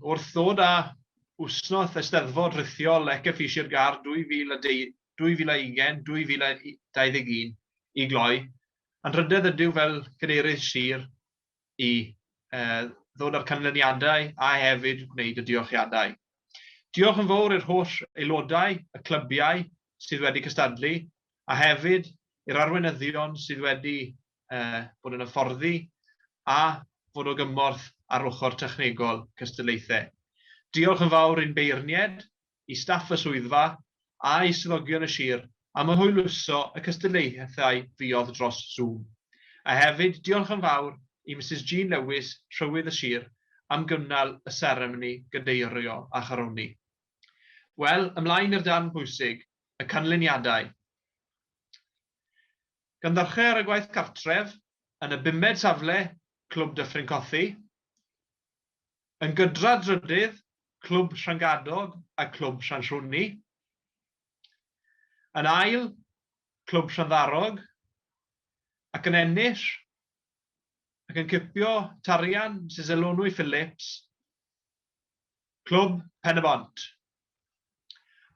Wrth ddod â Wsnoth Eisteddfod Rhithiol Lecce Fisher Gar 2020-2021 i gloi, anrhydedd ydyw fel Cadeirydd Sir i ddod â'r canlyniadau a hefyd gwneud y diolchiadau. Diolch yn fawr i'r holl aelodau, y clybiau sydd wedi cystadlu, a hefyd i'r arweinyddion sydd wedi eh, bod yn hyfforddi a fod o gymorth ar ochr technegol cystadlaethau. Diolch yn fawr i'n beirniaid, i staff y swyddfa a i swyddogion y sir am y hwyluso y cystadlaethau fuodd dros Zoom. A hefyd diolch yn fawr i Misus Jean Lewis, Rhywydd y Sir, am gynnal y seremoni gadeirio a charoni. Wel, ymlaen i'r darn bwysig, y canlyniadau. Gynhyrchir ar y gwaith cartref yn y bumed safle Clwb Dyffryn Cothi, yn gydra drydydd Clwb Llangadog a Clwb Llanllwni, yn ail Clwb Llanddarog ac yn ennill ac yn cipio tarian Misus Elunwy Phillips, Clwb Pen-y-bont.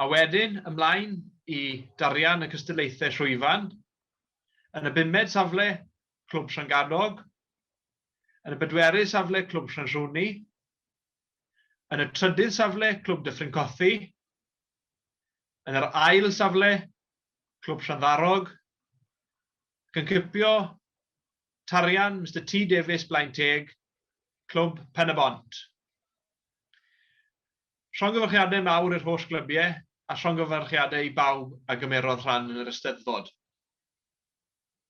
A wedyn ymlaen i darian y cystadlaethau llwyfan, yn y bumed safle, Clwb Llangadog, yn y bedwerydd safle, Clwb Llanllwni, yn y trydydd safle, Clwb Dyffryn Cothi, yn yr ail safle, Clwb Llanddarog, ac yn cipio tarian Mister T Davies Blaen Teg, Clwb Pen-y-bont. Llongyfarchiadau mawr i'r holl glybiau a llongyfarchiadau i bawb a gymerodd rhan yn yr Eisteddfod.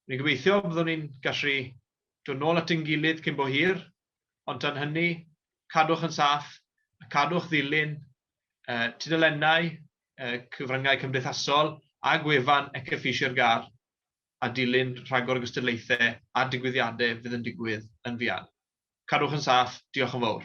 Rwy'n gobeithio byddwn ni'n gallu dod nôl at ein gilydd cyn bo hir, ond tan hynny, cadwch yn saff a cadwch ddilyn y tudalennau, y cyfryngau cymdeithasol a gwefan Ecefeishier Gar a dilyn rhagor o gystadlaethau a digwyddiadau fydd yn digwydd yn fuan. Cadwch yn saff, diolch yn fawr.